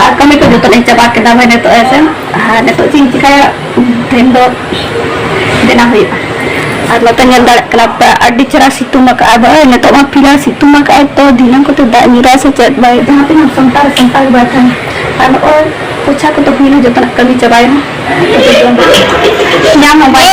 ᱟᱨ ᱠᱟᱹᱢᱤ ᱠᱚ ᱡᱚᱛᱚ ᱞᱤᱧ ᱪᱟᱵᱟ ᱠᱮᱫᱟ ᱵᱷᱟᱹᱭ ᱱᱤᱛᱚᱜ ᱦᱮᱸᱥᱮ ᱟᱨ ᱱᱤᱛᱚᱜ ᱪᱮᱫ ᱤᱧ ᱪᱤᱠᱟᱹᱭᱟ ᱛᱮᱦᱮᱧ ᱫᱚ ᱵᱮᱱᱟᱣ ᱦᱩᱭᱩᱜᱼᱟ ᱟᱨ ᱱᱚᱛᱮ ᱧᱮᱞ ᱫᱟᱲᱮᱭᱟᱜ ᱠᱟᱱᱟ ᱯᱮ ᱟᱹᱰᱤ ᱪᱮᱦᱨᱟ ᱥᱤᱛᱩᱝ ᱟᱠᱟᱫᱼᱟ ᱵᱷᱟᱹᱭ ᱱᱤᱛᱚᱜ ᱢᱟ ᱯᱷᱤᱞᱦᱟᱞ ᱥᱤᱛᱩᱝ ᱟᱠᱟᱫᱼᱟᱭ ᱛᱚ ᱫᱷᱤᱱᱟᱹᱝ ᱠᱚᱛᱮ ᱫᱟᱜ ᱧᱩᱨᱟ ᱥᱮ ᱪᱮᱫ ᱵᱷᱟᱹᱭ ᱡᱟᱦᱟᱸ ᱛᱤᱱᱟᱹᱜ ᱥᱟᱱᱛᱟᱲ ᱥᱟᱱᱛᱟᱲ ᱵᱟᱭ ᱠᱷᱟᱱ ᱟᱨ ᱱᱚᱜᱼᱚᱭ ᱯᱚᱪᱷᱟ ᱠᱚᱫᱚ ᱦᱩᱭᱱᱟ ᱡᱚᱛᱚᱱᱟᱜ ᱠᱟᱹᱢᱤ ᱪᱟᱵᱟᱭᱮᱱᱟ ᱧᱟᱢ ᱦᱚᱸ ᱵᱟᱭ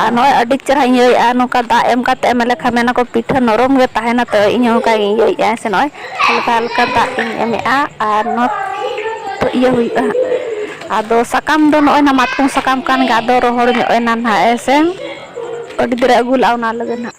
ᱟᱨ ᱱᱚᱜᱼᱚᱭ ᱟᱹᱰᱤ ᱪᱮᱦᱨᱟᱧ ᱤᱭᱟᱹᱭᱮᱫᱼᱟ ᱱᱚᱝᱠᱟ ᱫᱟᱜ ᱮᱢ ᱠᱟᱛᱮᱫ ᱮᱢ ᱞᱮᱠᱷᱟᱱ ᱢᱮᱱᱟᱠᱚ ᱯᱤᱴᱷᱟᱹ ᱱᱚᱨᱚᱢ ᱜᱮ ᱛᱟᱦᱮᱱᱟ ᱛᱚ ᱤᱧ ᱦᱚᱸ ᱚᱱᱠᱟᱧ ᱤᱭᱟᱹᱭᱮᱫᱼᱟ ᱥᱮ ᱱᱚᱜᱼᱚᱭ ᱦᱟᱞᱠᱟ ᱦᱟᱞᱠᱟ ᱫᱟᱜ ᱤᱧ ᱮᱢᱮᱫᱼᱟ ᱟᱨ ᱱᱚᱣᱟ ᱛᱚ ᱤᱭᱟᱹ ᱦᱩᱭᱩᱜᱼᱟ ᱦᱟᱸᱜ ᱟᱫᱚ ᱥᱟᱠᱟᱢ ᱫᱚ ᱱᱚᱜᱼᱚᱭ ᱱᱟ ᱢᱟᱛᱠᱚᱢ ᱥᱟᱠᱟᱢ ᱠᱟᱱ ᱜᱮ ᱟᱫᱚ ᱨᱚᱦᱚᱲ ᱧᱚᱜ ᱮᱱᱟ ᱱᱟᱦᱟᱜ ᱦᱮᱸ ᱥᱮ ᱟᱹᱰᱤ ᱫᱤᱱ ᱨᱮ ᱟᱹᱜᱩ ᱞᱟᱜᱼᱟ ᱚᱱᱟ ᱞᱟᱹᱜᱤᱫ ᱦᱟᱸᱜ